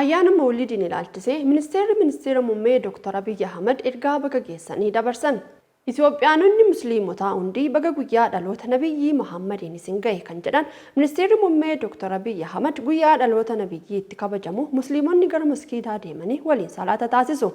Ayyaana Mawulidiin ilaalchisee Ministeerri Ministeera Mummee Dooktar Abiy Ahimad ergaa baga geessanii dabarsan. Itiyoophiyaanonni Musliimotaa hundi baga guyyaa dhaloota Nabiyyii Mahaammadiin isin gahe kan jedhan Ministeerri Mummee Dooktar Abiy Ahimad, guyyaa dhaloota Nabiyyii itti kabajamu Musliimonni gara maskiidaa deemanii waliin salaata taasisu.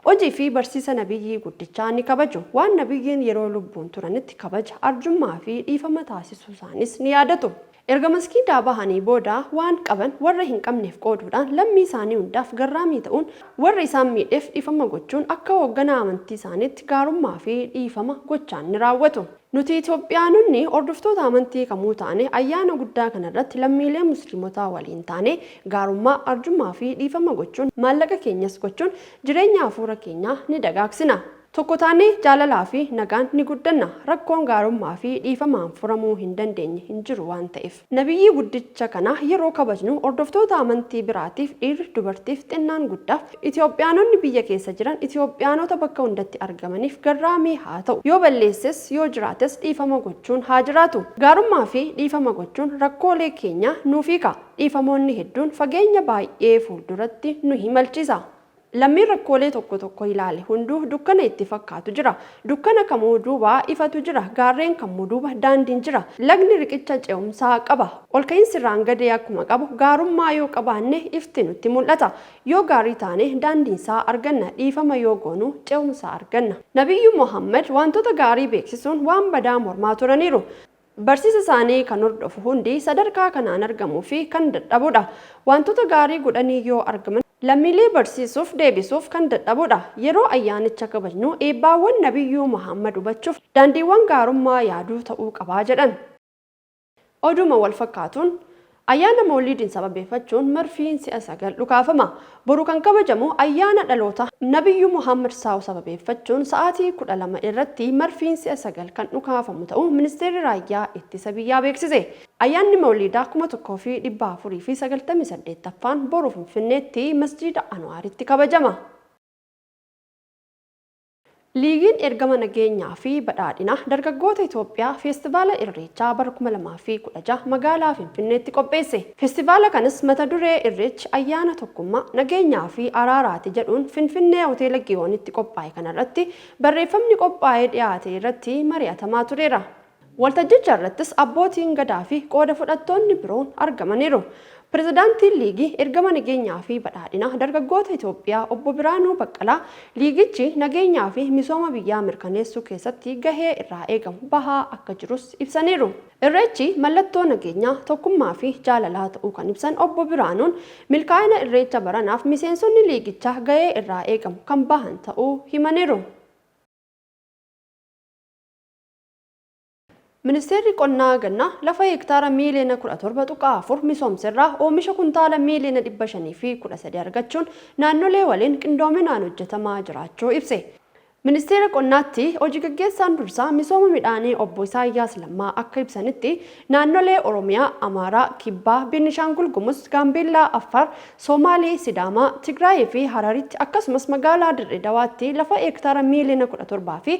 Hojii fi barsiisa Nabiyyii guddichaa ni kabaju. Waan Nabiyyiin yeroo lubbuun turanitti kabaja, arjummaa fi dhiifama taasisuusaaniis ni yaadatu. Erga masgiidaa bahanii booda waan qaban warra hin qabneef qooduudhaan lammii isaanii hundaaf garraamii ta'uun warra isaan miidheef dhiifama gochuun akka hoogganaa amantii isaaniitti gaarummaa fi dhiifama gochaan ni raawwatu. Nuti Itoophiyaanonni hordoftoota amantii kamuu taane ayyaana guddaa kana irratti lammiilee musliimotaa waliin taanee gaarummaa, arjummaa fi dhiifama gochuun maallaqa keenyas gochuun jireenya hafuura keenyaa ni dagaagsina. Tokko taanee jaalalaa fi nagaan ni guddanna. Rakkoon gaarummaa fi dhiifamaan furamuu hin dandeenye hin jiru waan ta'eef. Nabiyyii guddicha kana yeroo kabajnu hordoftoota amantii biraatiif dhiirri, dubartiif, xinnaan guddaaf, Itoophiyaanonni biyya keessa jiran, Itoophiyaanota bakka hundatti argamaniif garraamii haa ta'u. Yoo balleesses, yoo jiraates dhiifama gochuun haa jiraatu. Gaarummaa fi dhiifama gochuun rakkoolee keenya nuuf hiika. Dhiifamoonni hedduun fageenya baay'ee fuulduratti nu imalchiisa. Lammiin rakkoolee tokko tokko ilaale hunduu dukkana itti fakkaatu jira. Dukkana kamuu duuba ifatu jira. Gaarreen kamuu duuba daandiin jira. Lagni riqicha ce'umsaa qaba. Ol ka'iinsi irraan gadee akkuma qabu gaarummaa yoo qabaanne ifti nutti mul'ata. Yoo gaarii taane daandiinsaa arganna. Dhiifama yoo goonu ce'umsa arganna. Nabiyyu Muhammad waantota gaarii beeksisuun waan badaa mormaa turaniiru. Barsiisa isaanii kan hordofu hundi sadarkaa kanaan argamuu fi kan dadhabudha. Waantota gaarii godhanii yoo argaman. Lammiilee barsiisuuf, deebisuuf kan dadhabudha. Yeroo ayyaanicha kabajnu eebbaawwan Nabiyyuu Muhammad hubachuuf daandiiwwan gaarummaa yaaduu ta'uu qaba jedhan. Oduuma wal fakkaatuun, Ayyaana Mawliidiin sababeeffachuun marfiin si'a sagal dhukaafama. Boru kan kabajamu ayyaana dhaloota Nabiyyuu Muhammad, saw, sababeeffachuun sa'aatii 12:00 irratti marfiin si'a sagal kan dhukaafamu ta'uu Ministeerri Raayyaa Ittisa Biyyaa beeksise. Ayyaanni Mawliidaa 1498ffaan boru Finfinneetti Masjiida Anwaaritti kabajama. Liigiin Ergama Nageenyaa fi Badhaadhinaa Dargaggoota Itoophiyaa Feestivaala Irreechaa bara 2016 magaalaa Finfinneetti qopheesse. Feestivaala kanas mata duree Irreechi ayyaana tokkummaa, nageenyaa fi araaraati jedhuun Finfinnee Hoteela Giyoonitti qophaa'e kanarratti barreeffamni qophaa'ee dhiyaate irratti mari'atamaa tureera. Waltajjicha irrattis Abbootiin Gadaa fi qooda fudhattoonni biroon argamaniiru. Pirezidaantiin Liigii Ergama Nageenyaa fi Badhaadhinaa Dargaggoota Itoophiyaa Obbo Biraanuu Baqqalaa liigichi nageenyaa fi misooma biyyaa mirkaneessuu keessatti gahee irraa eegamu bahaa akka jirus ibsaniiru. Irreechi mallattoo nageenyaa, tokkummaa fi jaalalaa ta'uu kan ibsan Obbo Biraanuun, milkaa'ina Irreecha baranaaf miseensonni liigichaa gahee irraa eegamu kan bahan ta'uu himaniiru. Ministeerri Qonnaa Gannaa lafa heektaara miiliyoona 17.4 misoomserraa oomisha kuntaala miiliyoona 513 argachuun naannolee waliin qindoominaan hojjetamaa jiraachuu ibse. Ministeera Qonnaatti Hoji Gaggeessaan Dursaa Misooma Midhaanii Obbo Isaayyaas Lammaa akka ibsanitti, naannolee Oromiyaa, Amaaraa, Kibbaa, Beenishaangul Gumuz, Gaambeellaa, Affaar, Soomaalee, Sidaamaa, Tigraayiifi Hararitti akkasumas magaalaa Dirree Dawaatti lafa heektaara miiliyoona 17fi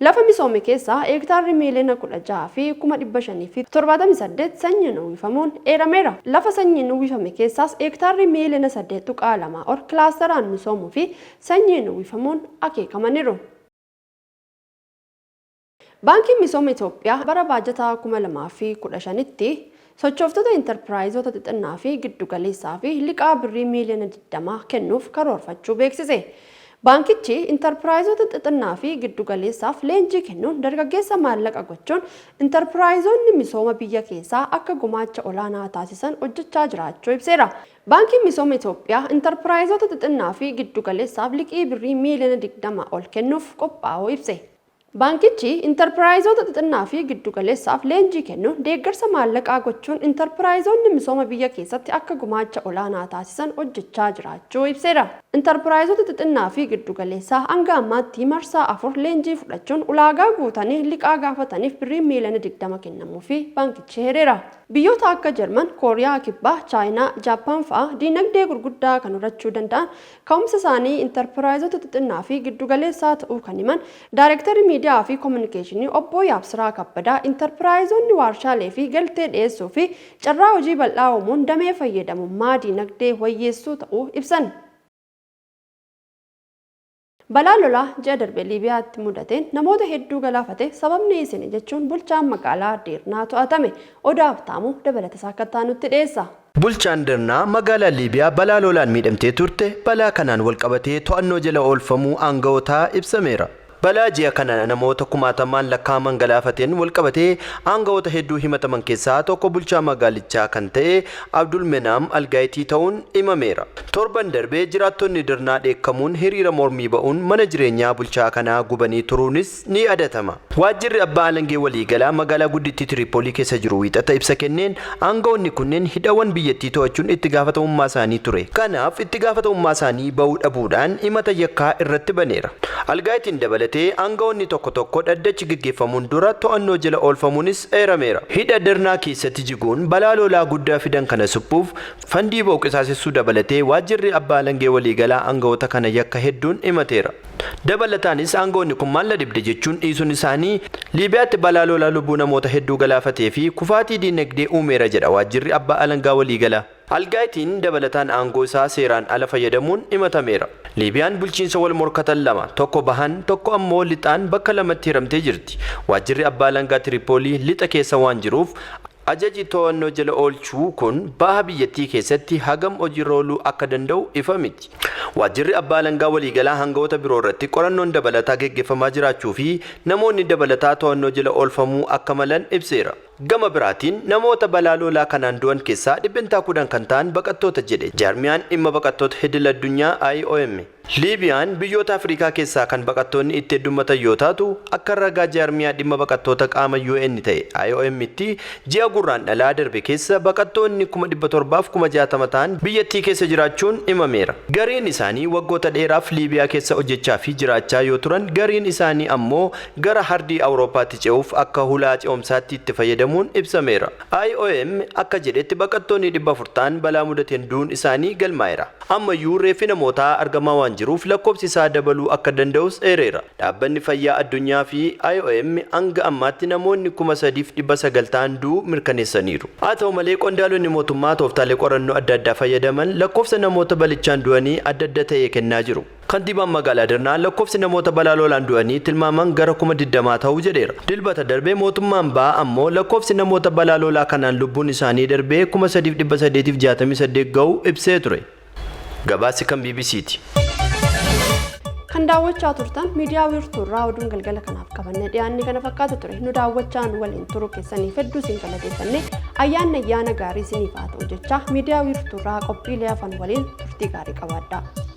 Lafa misoome keessaa heektaarri miiliyoona 16 fi kuma 578 sanyiin uwwifamuun eerameera. Lafa sanyiin uwwifame keessaas heektaarri miiliyoona 8.2 ol kilaastaraan misoomuu fi sanyiin uwwifamuun akeekamaniiru. Baankiin Misooma Itoophiyaa bara baajataa 2015tti Sochooftota Intarpiraayizoota xixinnaa fi giddu galeessaafi liqaa Birrii miiliyoona 20 kennuuf karoorfachuu beeksise. Baankichi Intarpiraayizoota xixinnaa fi giddu galeessaaf leenjii kennuun dargaggeessa maallaqa gochuun Intarpiraayizoonni misooma biyya keessaa akka gumaacha olaanaa taasisan hojjechaa jiraachuu ibseera. Baankiin Misooma Itoophiyaa Intarpiraayizoota xixinnaa fi giddu galeessaaf liqii Birrii miiliyoona 20 ol kennuuf qophaa'uu ibse. Baankichi intarpiraayizoota xixinnaa fi giddu galeessaaf leenjii kennuun deeggarsa maallaqaa gochuun intarpiraayizoonni misooma biyya keessatti akka gumaacha olaanaa taasisan hojjechaa jiraachuu ibseera. Intarpiraayizoota xixinnaa fi giddu galeessaa hanga ammaatti marsaa afur leenjii fudhachuun ulaagaa guutanii liqaa gaafataniif birriin miiliyoona 20 kennamuufii baankichi heereera. Biyyoota akka Jarman, Kooriyaa Kibbaa, Chaayinaa, Jaappaan fa'a diinagdee gurguddaa kan horachuu danda'an Ka'umsa isaanii Intarpiraayizota xixinnaa fi giddu galeessaa ta'uu kan himan Daarektarri Miidiyaa fi Kominikeeshinii Obbo Yaabsiraa Kabbadaa, Intarpiraayizonni waarshaalee fi galtee dhiyeessuu fi carraa hojii bal'aa uumuun damee fayyadamummaa diinagdee wayyeessuu ta'uu ibsan. Balaa lolaa ji'a darbe Liibiyaatti mudateen namoota hedduu galaafate sababni isini jechuun bulchaan magaalaa Deernaa to'atame. Odaa Habtaamuu dabalatasaa akka itti aanutti dhiyeessa. Bulchaan Darnaa magaalaa Liibiyaa balaa lolaan miidhamtee turte balaa kanaan walqabatee to'annoo jala oolfamuu aanga'ootaa ibsameera. Balaa ji'a kana namoota kumaatamaan lakkaa'aman galaafateen walqabatee aanga'oota hedduu himataman keessaa tokko bulchaa magaalichaa kan ta'e Abdul Menaam Algaayitii ta'uun imameera. Torban darbe jiraattonni Darnaa dheekkamuun hiriira mormii ba'uun mana jireenyaa bulchaa kanaa gubanii turuunis ni yaadatama. Waajjirri Abbaa Alangee Waliigalaa magaalaa guddittii Tiriipoolii keessa jiru Wiixata ibsa kenneen, aanga'oonni kunneen hidhawwan biyyattii to'achuun itti gaafatamummaa isaanii ture. Kanaaf itti gaafatamummaa isaanii ba'uu dhabuudhaan himata yakkaa irratti baneera. Algaayitiin dabalatee aanga'oonni tokko tokko dhaddachi geggeeffamuun dura to'annoo jala oolfamuunis eerameera. Hidha Darnaa keessatti jiguun balaa lolaa guddaa fidan kana suphuuf fandii ba'u qisaasessuu dabalatee Waajjirri Abbaa Alangee Waliigalaa aanga'oota kana yakka hedduun himateera. Dabalataanis aangawoonni kun maal na dhibde jechuun dhiisuun isaanii Liibiyaatti balaa lolaa lubbuu namoota hedduu galaafatee fi kufaatii diinagdee uumeera jedha waajjirri abbaa alangaa waliigalaa. Al-Gaayitiin dabalataan aangoo isaa seeraan ala fayyadamuun himatameera. Liibiyaan bulchiinsa wal morkatan lama, tokko bahaan, tokko ammoo lixaan bakka lamatti hiramtee jirti. Waajjirri abbaa alangaa Tiripoolii lixa keessa waan jiruuf, Ajaji to'annoo jala oolchuu kun baha biyyattii keessatti hagam hojiirra ooluu akka danda'u ifa miti. Waajjirri Abbaa Alangaa Waliigalaa hanga'oota biroo irratti qorannoon dabalataa geggeeffamaa jiraachuu fi namoonni dabalataa to'annoo jala oolfamuu akka malan ibseera. Gama biraatiin namoota balaa lolaa kanaan du'an keessaa dhibbentaa 10 kan ta'an baqattoota jedhe jaarmiyaan dhimma baqattoota idil addunyaa, IOM. Liibiyaan biyyoota Afriikaa keessaa kan baqattoonni itti heddummatan yoo taatu, akka ragaa jaarmiyaa dhimma baqattoota qaama UN ta'e IOM'tti ji'a Gurraandhalaa darbe keessa baqattoonni 700,060 ta'an biyyattii keessa jiraachuun himameera. Gariin isaanii waggoota dheeraaf Liibiyaa keessa hojjechaa fi jiraachaa yoo turan, gariin isaanii ammoo gara hardii Awurooppaatti ce'uuf akka hulaa ce'umsaatti itti fayyadamuun ibsameera. IOM akka jedhetti baqattoonni 400 ta'an balaa mudateen du'uun isaanii galmaa'eera. Ammayyuu reeffi namootaa argamaa waan jiruuf lakkoofsi isaa dabaluu akka danda'us eereera. Dhaabbanni Fayyaa Addunyaa fi IOM hanga ammaatti namoonni 3,900 ta'an du'uu mirkaneessaniiru. Haa ta'u malee qondaalonni mootummaa tooftaalee qorannoo adda addaa fayyadaman lakkoofsa namoota balichaan du'anii adda adda ta'e kennaa jiru. Kantiibaan Magaalaa Dirnaa lakkoofsi namoota balaa lolaan du'anii tilmaamaan gara kuma 20 tahu jedheera. Dilbata darbe mootummaan bahaa ammoo lakkoofsi namoota balaa lolaa kanaan lubbuun isaanii darbee 3,868 gahu ibsee ture. Gabaasi kan bbc ti. Kan daawwachaa turtan miidiyaa wiirtuu irraa oduun galgala kanaaf qabannee dhiyaanne kana fakkaata ture. Nu daawwachaa nu waliin turuu keessaniif hedduu isin galateeffanne ayyaanni ayyaana gaarii isiniif haa ta'u jechaa miidiyaa wiirtuu irraa qophiilee hafan waliin turtii gaarii qabaadhaa.